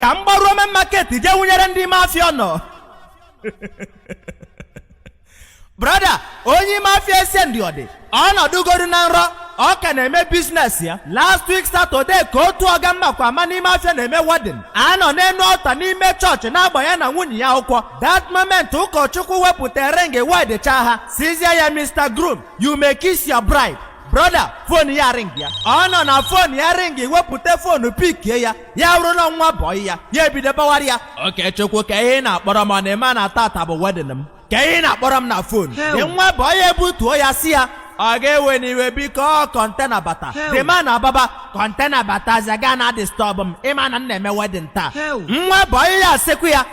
ka m gbaruo main market jee wụnyere ndị ime afịa ọnụ brọda onye ime afịa ese ndị ọ dị ọ nọdụgodu na nrọ ọ ka na-eme biznes ya last week satọdee ka otu ọga m makwa ama n'ime afịa na-eme wedin a nọ n'enu altar n'ime chọọchị na-agba ya na nwunye ya akwụkwọ that moment ụkọchukwu wepụta ring wedichaa ha sịzie ya mr groom you may kiss your bride brọda fon ya ring ya ọ nụ na fon ya ring wepụta fonu pikie ya ya bụrụ na nwa bọị ya ya ebido bawara ya okechukwu kee ihe ị na-akpọrọ m ọ na ị ma na tata bụ wedin m kee ihe ị na-akpọrọ m na fon the nwa bọị ya ebutuo ya sị ya ọga ewena iwe biko ọ kọntena bata the man ababa kọntena batazia ị ga na-adistọbụ m ị ma na m na-eme wedin taa nwa bọị ya asịkwa ya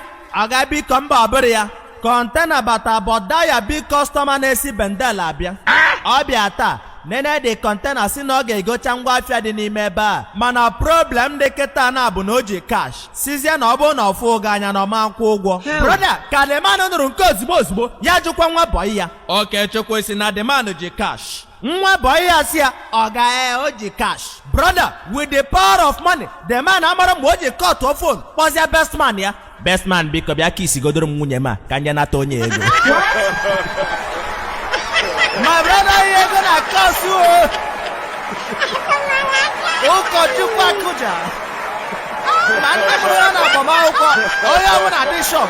ọga biko mba ọ bụrọ ya kọntena bata but that your big kọstọma na-esi bendel abịa ọ bịa taa nene the kọntena sị na ọ ga-egocha ngwa afịa dị n'ime ebe a mana problem dị kịta na bụ na o ji kash sịzie na ọ bụrụ na ọ fụọ gị anya na ọ ma nkwụ ụgwọ broda ka the man nụrụ nke a ozigbo ozigbo ya jụkwa nwa bọyị ya okechukwu ị sị na the man ji kash nwa bọyị ya sị ya ọga ee o ji cash brother with the power of money the man amarọ mgbe o ji kọtụọ fon kpọzie best man ya best man biko bịa kisigodoro m nwunye m a ka m je nata onye ego my brọda ihe ego na-akọsụ o ụkọchukwu akụja ma ndị mụrụ ya na agbamakwụkwọ onye ọbụla dị shọk